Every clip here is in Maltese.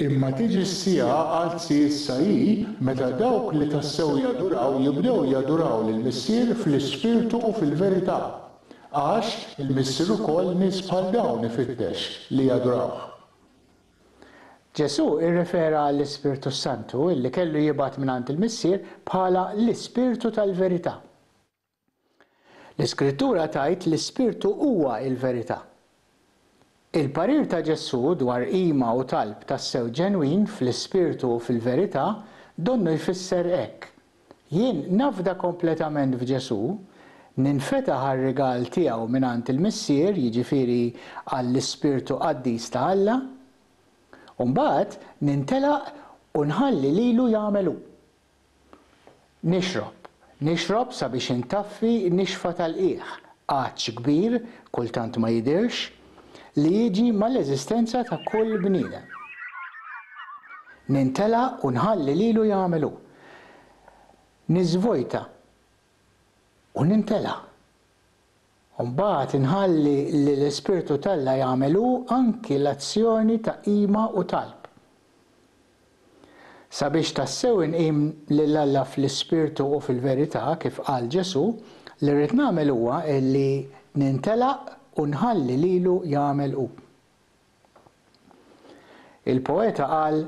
Imma tiġi s-siegħa, qalt si issa hi, meta dawk li tassew jaduraw jibdew jaduraw lill-Missier fl-ispirtu u fil-verità. Għax, il-Missier ukoll nies bħal dawn ifittex, li jadurawh. Ġesù irrefera għall-Ispirtu s-Santu li kellu jibgħat mingħand il-Missier bħala l-Ispirtu tal-verità. L-Iskrittura tgħid li Spirtu huwa l-verità. Il-parir ta' Ġesù dwar qima u talb tassew ġenwin fl-ispirtu u fil-verità donnu jfisser hekk, Jien nafda kompletament f'Ġesù, ninfetaħ għar-rigal tiegħu mingħand il-Missier, jiġifieri għall-ispirtu qaddis ta' Alla, u mbagħad nintelaq u nħalli lilu jagħmel hu. Nixrob, nixrob sabiex intaffi nixfa tal-qiegħ, għatx kbir, kultant ma jidhirx, li jiġi mal-eżistenza ta' kull bniedem. Nintela' u nħalli lilu jagħmel hu. Niżvojta u nintela'. u mbagħad inħalli li l-Ispirtu t'Alla jagħmel hu anki l-azzjoni ta' qima u talb. Sabiex tassew inqim lil Alla fl-ispirtu u fil-verità, kif qal Ġesù, li rrid nagħmel huwa li nintelaq u nħalli lilu jagħmel hu. Il-poeta qal,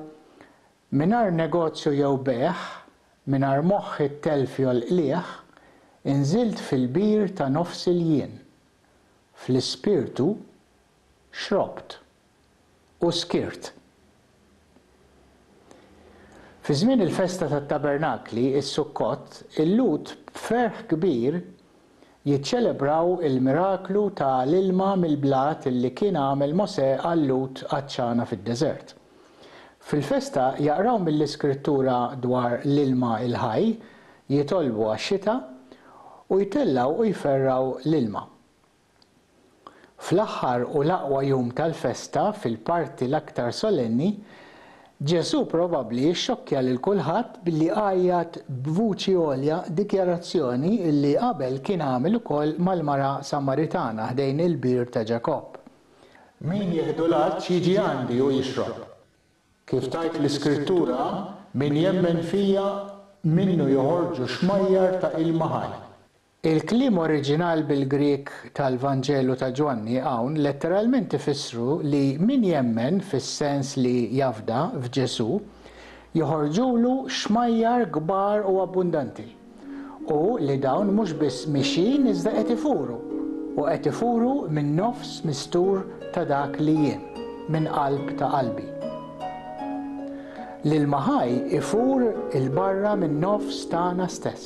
Mingħajr negozju jew bejgħ, mingħajr moħħ it-telf jolqlieh, inżilt fil-bir ta' nofs il-jien. Fl-ispirtu, xrobt. U skirt. Fi żmien il-festa tat-Tabernakli, is-Sukkot, il-Lhud b'ferħ kbir jiċċelebraw il-miraklu ta' l-ilma mill-blat li kien għamel Mosè għal Lut għatxana fid-deżert. Fil-festa jaqraw mill-Iskrittura dwar l-ilma l-ħaj, jitolbu għax-xita, u jtellgħu u jferrgħu l-ilma. Fl-aħħar u l-aqwa jum tal-festa, fil-parti l-aktar solenni, Ġesù probabbli xxokkja lil kulħadd billi għajjat b'vuċi għolja dikjarazzjoni li qabel kien għamel ukoll mal-mara Samaritana ħdejn il-bir ta' Ġakobb, Min jieħdu l-għatx jiġi għandi u jixrob. Kif tgħid l-Iskrittura, Min jemmen fija, minnu joħorġu xmajjar ta' ilma ħaj. Il-kliem oriġinal bil-Grieg tal-Vanġelu ta' Ġwanni hawn letteralment ifissru li min jemmen, fis-sens li jafda, f'Ġesù, joħorġulu xmajjar kbar u abbundanti, u li dawn mhux biss mixjin iżda qed ifuru, u qed ifuru min-nofs mistur ta' dak li jien, minn qalb ta' qalbi. L-ilma ħaj ifur 'il barra min-nofs tagħna stess.